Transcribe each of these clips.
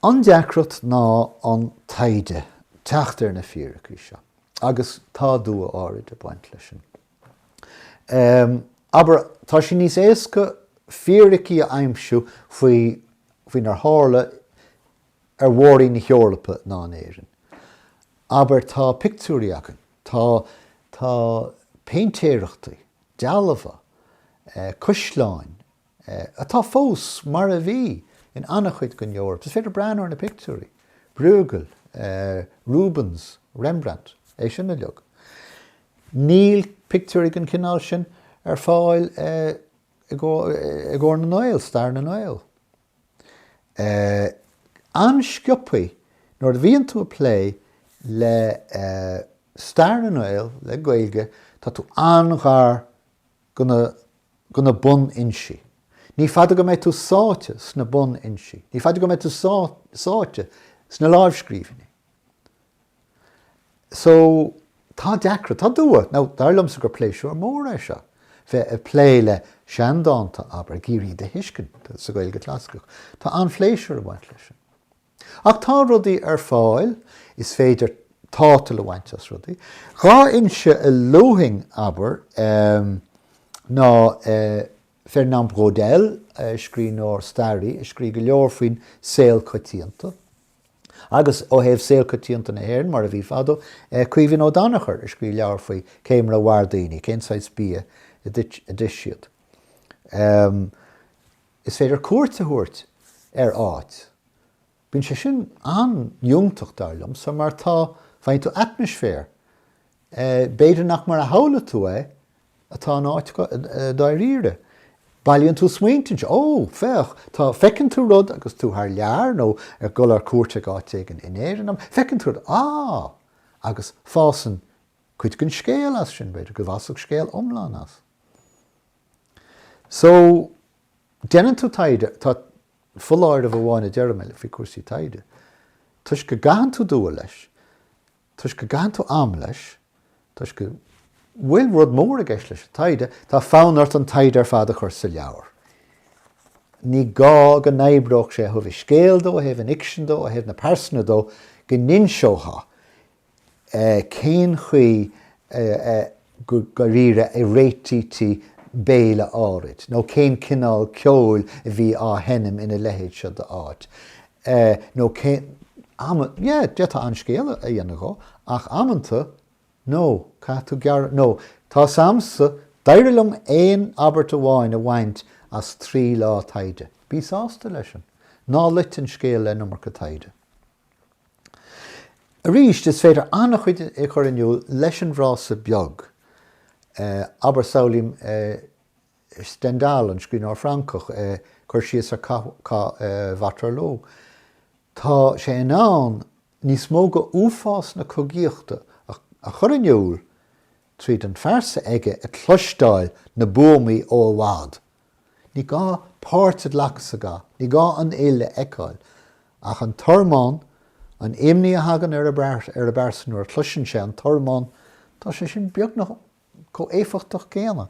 An deacracht ná an taighde teacht ar na fíricí seo agus tá dua áirid ag baint leis sin. Abair, tá sé níos éasca fíricí a aimsiú faoi faoinar tharla ar mhór-roinn na hEorpa ná in Éirinn. Abair, tá pictiúirí againn, tá, tá péintéireachtaí, dealbha, eh, caisleáin, eh, atá fós mar a bhí in an-chuid den Eoraip. Is féidir breathnú ar na pictiúirí, Bruegel, eh, Rubens, Rembrandt, é sin uilig. Níl pictiúirí den chineál sin ar fáil, eh, i gcomhair, eh, i gcomhair na nGael, stair na nGael. An-sciobthaí nuair a bhíonn tú ag plé le stair na nGael, le Gaeilge, tá tú an-ghar go na bunfhoinsí. Ní fada go mbeidh tú sáite sna bunfhoinsí, ní fada go mbeidh tú sáite sna láimhscríbhinní. So, tá deacracht, tá dua. Now, dar liomsa gur pléisiúr mór é seo, bheith ag plé le seandánta, abair, ag iarraidh iad a thuiscint sa Ghaeilge Chlasaiceach. Tá an-phléisiúr ag baint leis sin. Ach tá rudaí ar fáil, is féidir tátal a bhaint as rudaí. Dhá fhoinse a luafainn, abair, ná Fernand Braudel, scríbhneoir, staraí, a scrígh go leor faoin saol coitianta, Agus ó thaobh saol coitianta na hÉireann mar a bhí fadó, Caoimhín Ó Danachair a scrígh leabhar faoi cé mar a mhair daoine, cén saghas bia a d'ith siad. Is féidir cuairt a thabhairt ar áit. Bíonn sé sin an-fhiúntach dar liomsa mar tá, faigheann tú atmaisféar, b'fhéidir nach mar a shamhlaigh tú é atá in áit dáiríre. Bailíonn tú smaointe, Ó, féach, tá, feiceann tú rud agus tú thar lear nó ag gabháil ar cuairt ag áit éigin in Éirinn, nó feiceann tú rud, Á! agus fásann cuid den scéal as sin, b'fhéidir go bhfásfadh scéal iomlán as. So, déanann tú taighde, tá foláireamh amháin a deirim faoi cúrsaí taighde, toisc go gcaitheann tú dua leis, toisc go gcaitheann tú am leis, toisc go bhfuil rud mór i gceist leis an taighde, tá fonn ort an taighde ar fad a chur sa leabhar. Ní gá go n-oibreodh sé ó thaobh an scéil dó, ó thaobh an fhicsin dó, ó thaobh na pearsana dó, go n-inseofá cén chaoi a go ndáiríre a réitítí béile áirid nó cén cineál ceoil a bhí á sheinm ina leithéid seo d'áit nó cén amanna, yeah, d'fhéadfá an-scéal a dhéanamh dhó ach amanta, no, caithfidh tú gearr, no, tá 's a'msa, d'éirigh liom aon abairt amháin a bhaint as trí lá taighde. Bí sásta leis sin. Ná loit an scéal le an iomarca taighde. Arís, is féidir an-chuid a chur in iúl leis an bhfrása beag, abair, samhlaím Stendhal, an scríbhneoir Francach, ag cur síos ar Chath Waterloo. Tá sé in ann níos mó de uafás na cogaíochta a chur in iúl tríd an phearsa aige ag cloisteáil na buamaí ó i bhfad, Ní gá páirt a ghlacadh sa gcath, ní gá an fhuil a fheiceáil, ach an tormán, an imní a thagann ar an bpearsa nuair a chloiseann sé an tormán, tá sé sin beagnach chomh éifeachtach céanna.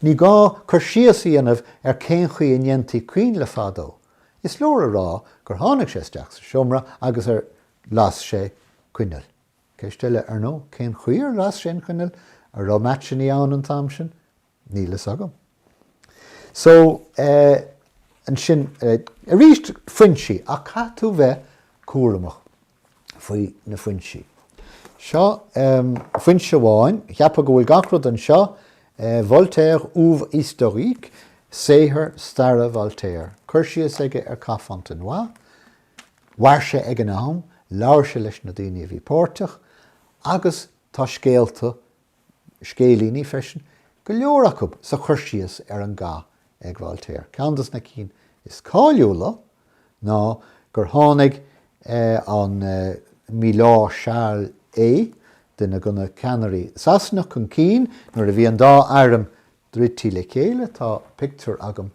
Ní gá cur síos a dhéanamh ar cén chaoi a ndéantaí coinnle fadó, is leor a rá gur tháinig sé isteach sa seomra agus gur las sé coinneal. Ceist eile, ar ndóigh, cén chaoi ar las sé an choinneal? An raibh maitseannaí ann an t-am sin? Níl fhios agam. So, eh, ansin, eh, arís foinsí, ach caithfidh tú bheith cúramach faoi na foinsí. Seo, em, foinse amháin, cheapfá go bhfuil gach rud anseo, eh, Voltaire, Oeuvres historiques, saothar staire Voltaire, cur síos aige ar Cath Fontenoy, mhair sé ag an am, labhair sé leis na daoine a bhí páirteach agus tá scéalta scéilíní freisin, go leor acu sa chur síos ar an gcath ag Voltaire. Ceann de na cinn is cáiliúla ná gur tháinig an Milord Charles Hay, duine de na ceannairí Sasanach, chun cinn nuair a bhí an dá airm druidte le chéile, tá pictiúr agam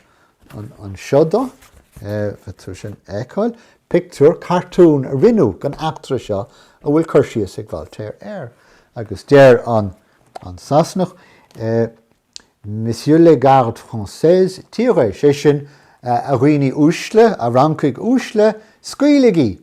anseo dó, féidir sin a fheiceáil, pictiúr cartún a rinneadh den eachtra seo a bhfuil cur síos ag Voltaire air agus deir an an Sasanach Messieurs les gardes françaises tirez, sé sin, a dhaoine uaisle, a Fhrancaigh uaisle, scaoiligí!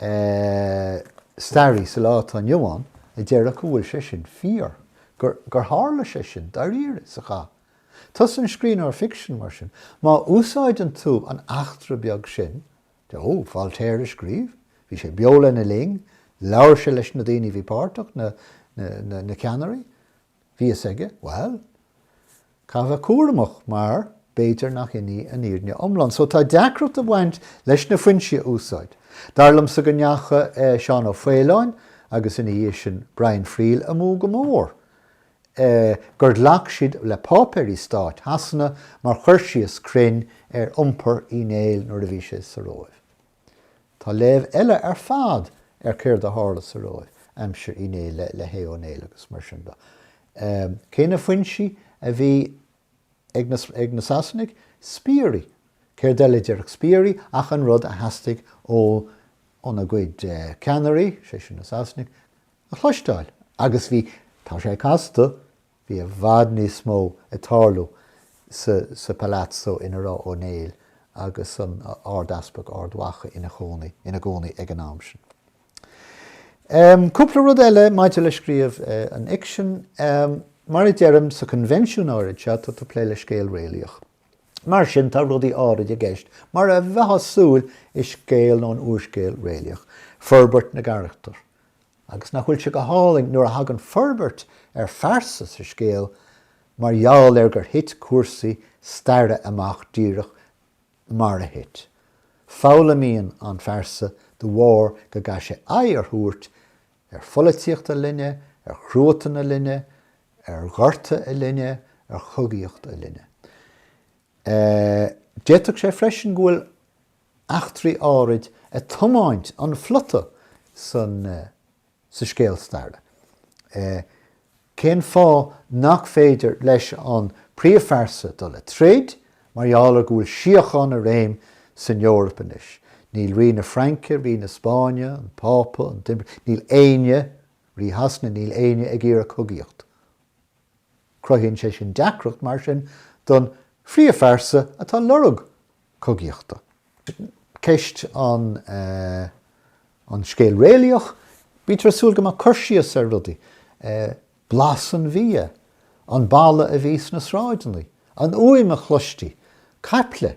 beag staraí sa lá atá inniu ann a déarfadh go bhfuil sé sin fíor, gur, gur tharla sé sin, dáiríre, sa chath. Tusa an scríbhneoir ficsin, mar sin. Má úsáideann tú an eachtra beag sin, de, ó, Voltaire a scríobh, bhí sé beo lena linn, labhair sé leis na daoine a bhí páirteach, na, na, na, na ceannairí, Bhí a fhios aige, bhail, caithfear a bheith cúramach mar b'fhéidir nach in í an fhírinne iomlán. So tá deacracht ag bhaint leis na foinsí a úsáid. Dar liomsa go ndeachaigh Seán Ó Faoláin agus ina dhiaidh sin Brian Friel amú go mór, gur ghlac siad le páipéirí stáit Shasana mar chur síos cruinn ar iompar Uí Néill nuair a bhí sé sa Róimh. Tá léamh eile ar fad ar céard a tharla sa Róimh aimsir Uí Néill le hAodh Ó Néill agus mar sin de. Cé na foinsí a bhí ag na Sasanaigh? Spiairí. Céard eile a déarfadh spiairí ach an rud a theastaigh óna gcuid ceannairí, sé sin na Sasanaigh, a chloisteáil? Agus bhí, tá sé casta, Bhí i bhfad níos mó ag tarlú sa Palazzo ina raibh Ó Néill agus an Ardeaspag Ard Mhacha ina gcónaí ag an am sin. Cúpla rud eile maidir le scríobh an fhicsin. Mar a deirim, sa choinbhinsiún áirid seo tá tú ag plé le scéal réalaíoch. Mar sin tá rudaí áirid i gceist, mar a bheifeá ag súil i scéal nó in úrscéal réalaíoch, forbairt na gcarachtar, Agus nach bhfuil sé go hálainn nuair a thagann forbairt ar phearsa sa scéal mar gheall ar gur thit cúrsaí staire amach díreach mar a thit. Foghlaimíonn an phearsa de bharr go gcaithfidh sé aghaidh a thabhairt ar pholaitíocht a linne, ar chruatan a linne, ar ghorta a linne, ar chogaíocht a linne. D'fhéadfadh sé freisin go bhfuil. eachtraí áirid ag tiomáint an phlota sa scéal staire. Cén fáth nach féidir leis an príomhphearsa dul le troid? Mar gheall ar go bhfuil síocháin i réim san Eoraip anois. Níl Rí na Fraince, Rí na Spáinne, an Pápa, an tImpire, níl éinne, Rí Shasana, níl éinne ag iarraidh cogaíocht. Cruthaíonn sé sin deacracht mar sin don phríomhphearsa atá ag lorg cogaíochta. Ceist an scéal réalaíoch, bítear ag súil go mbeadh cur síos ar rudaí, blas an bhia, an baladh a bhí sna sráideanna, an fhuaim a chloistí, caiple.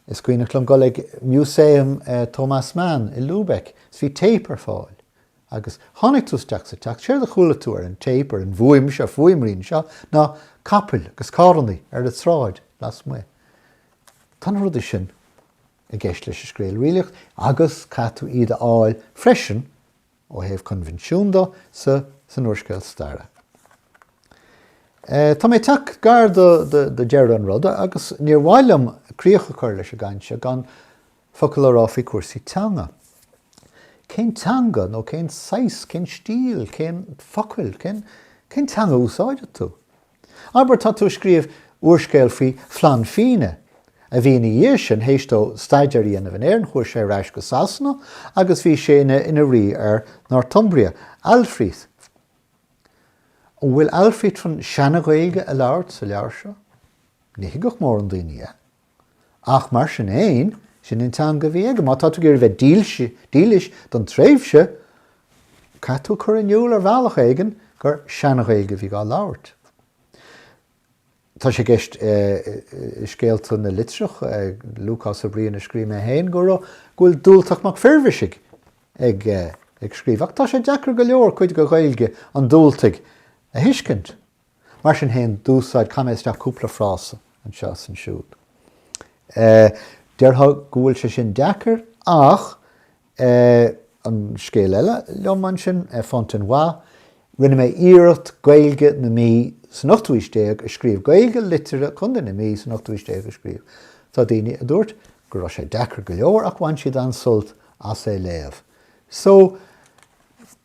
Is cuimhneach liom dul ag Museum Thomas Mann i Lübeck is bhí téip ar fáil. Agus tháinig tú isteach sa teach, séard a chuala tú ar an téip, ar an bhfuaim seo, fuaimrian seo, ná capaill agus carrannaí ar an tsráid lasmuigh. Tá na rudaí sin i gceist leis an scéal réalaíoch agus caithfidh tú iad a fháil freisin, ó thaobh coinbhinsiún de, sa, san úrscéal staire. Tá mé ag teacht gar do, do, do deireadh an ruda agus níor mhaith liom críoch a chur leis an gcaint seo gan, Focail a rá faoi chúrsaí teanga. Cén teanga nó cén saghas, cén stíl, cén focail, cén cén teanga a úsáideann tú? Abair tá tú a scríobh úrscéal faoi Flann Fína a bhí ina dhiaidh sin théis dó staidéar a dhéanamh in Éirinn chuaigh sé ar ais go Sasana agus bhí sé ina ina rí ar Northumbria, Aldfrith. An bhfuil Aldfrith chun Seana-Ghaeilge a labhairt sa leabhar seo? Ní thuigfeadh mórán daoine é. Ach mar sin fhéin, sin an teanga a bhí aige. Má tá tú ag iarraidh bheith dílis don tréimhse, caithfidh tú cur in iúl ar bhealach éigin gur Sean-Ghaeilge a bhí dhá labhairt. Tá sé i gceist i Scéal Tóir na Litreach Lúcás Uí Bhriain a scríobh mé féin go bhfuil Dubhaltach Mac Fhirbhisigh ag scríobh, ach tá sé deacair go leor cuid de Ghaeilge an Dubhaltaigh a thuiscint. Mar sin féin, d'úsáid, chaith mé isteach cúpla frása anseo is ansiúd. Déarfá go bhfuil sé sin deacair ach an scéal eile liom ansin, Fontenoy, rinne mé iarracht Gaeilge na Mí san ochtú haois déag a scríobh, Gaeilge liteartha Chontae na Mí san ochtú haois déag a scríobh. Tá daoine a dúirt go raibh sé deacair go leor ach bhain siad an-sult as é léamh. So,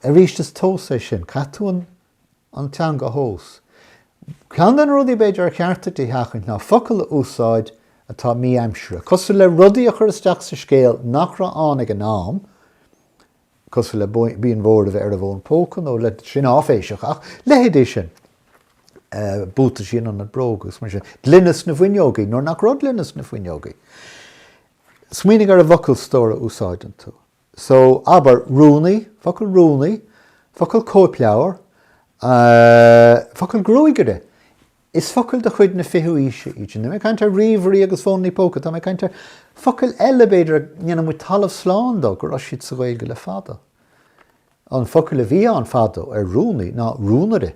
arís is tomhas é sin, caithfidh tú an an teanga a thomhas. Ceann de na rudaí b'fhéidir ar cheart duit a sheachaint ná focail a úsáid atá mí-aimsire, cosúil le rudaí a chur isteach sa scéal nach raibh ann ag an am, cosúil le Bíon Mhór a bheith ar an bhfón póca nó le, sin áiféiseach, ach leithéidí sin, buataisí in ionad bróg agus mar sin. Gloine sna fuinneogaí nuair nach raibh gloine sna fuinneogaí. Smaoinigh ar an bhfocalstór a úsáideann tú. So, abair, rúnaí, focal rúnaí, focal cóipleabhar, eh, focal gruagaire. Is focail de chuid na fichiú aoise iad sin. Níl mé ag caint ar ríomhairí agus fónanna póca, tá mé ag caint ar focail eile, b'fhéidir, a ndéanann muid talamh slán de go raibh siad sa Gaeilge le fada. An focal a bhí ann fadó ar rúnaí ná rúnaire.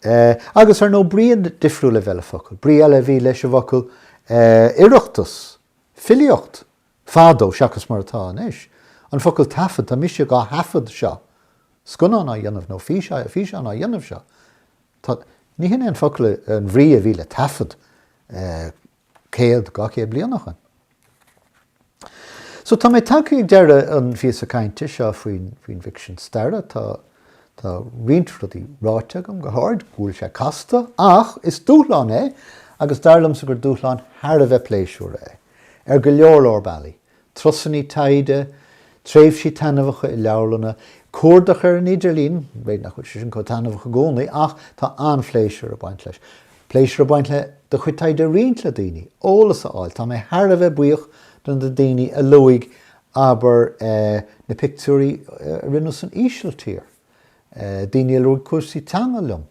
Eh, agus ar ndóigh brí difriúil a bheith le focal. Brí eile a bhí leis an bhfocal eh, oireachtas, filíocht, Fadó, seachas mar atá anois, an focal taifead, tá mise dhá thaifead seo, scannán á dhéanamh nó físeán á dhéanamh seo. Tá, ní shin é an focal, an bhrí a bhí le taifead céad, dhá chéad bliain ó shin. So tá mé tagtha ag deireadh an phíosa cainte seo faoin bhficsean staire. Tá roinnt rudaí ráite agam go háirid, go bhfuil sé casta, ach is dúshlán é agus dar liomsa gur dúshlán thar a bheith pléisiúrtha é. Ar go leor leor bealaí, turasanna taighde, tréimhsí taitneamhacha i leabharlanna, cuardach ar an idirlíon, b'fhéidir nach bhfuil sé sin chomh taitneamhach i gcónaí ach tá an-phléisiúr ag baint leis, pléisiúr ag baint le do chuid taighde a roinnt le daoine, eolas a fháil. Tá mé thar a bheith buíoch do na daoine a luaigh, abair, na pictiúirí a rinneadh san Ísiltír, daoine a luaigh cúrsaí teanga liom.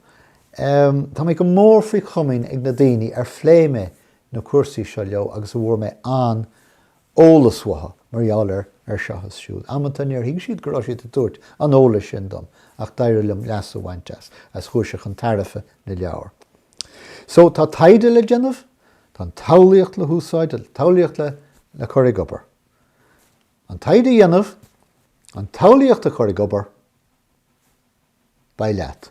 Tá mé go mór faoi chomaoin ag na daoine ar phléigh mé na cúrsaí seo leo agus a bhfuair mé an-eolas uathu mar gheall air seo is siúd. Amanta níor thuig siad go raibh siad ag tabhairt an eolais sin dom ach d'éirigh liom leas a bhaint as agus chuaigh sé chun tairfe na leabhar. So tá taighde le déanamh, tá an tsamhlaíocht le húsáid, an tsamhlaíocht le cur ag obair. An taighde a dhéanamh, an tsamhlaíocht a chur ag obair, beidh leat.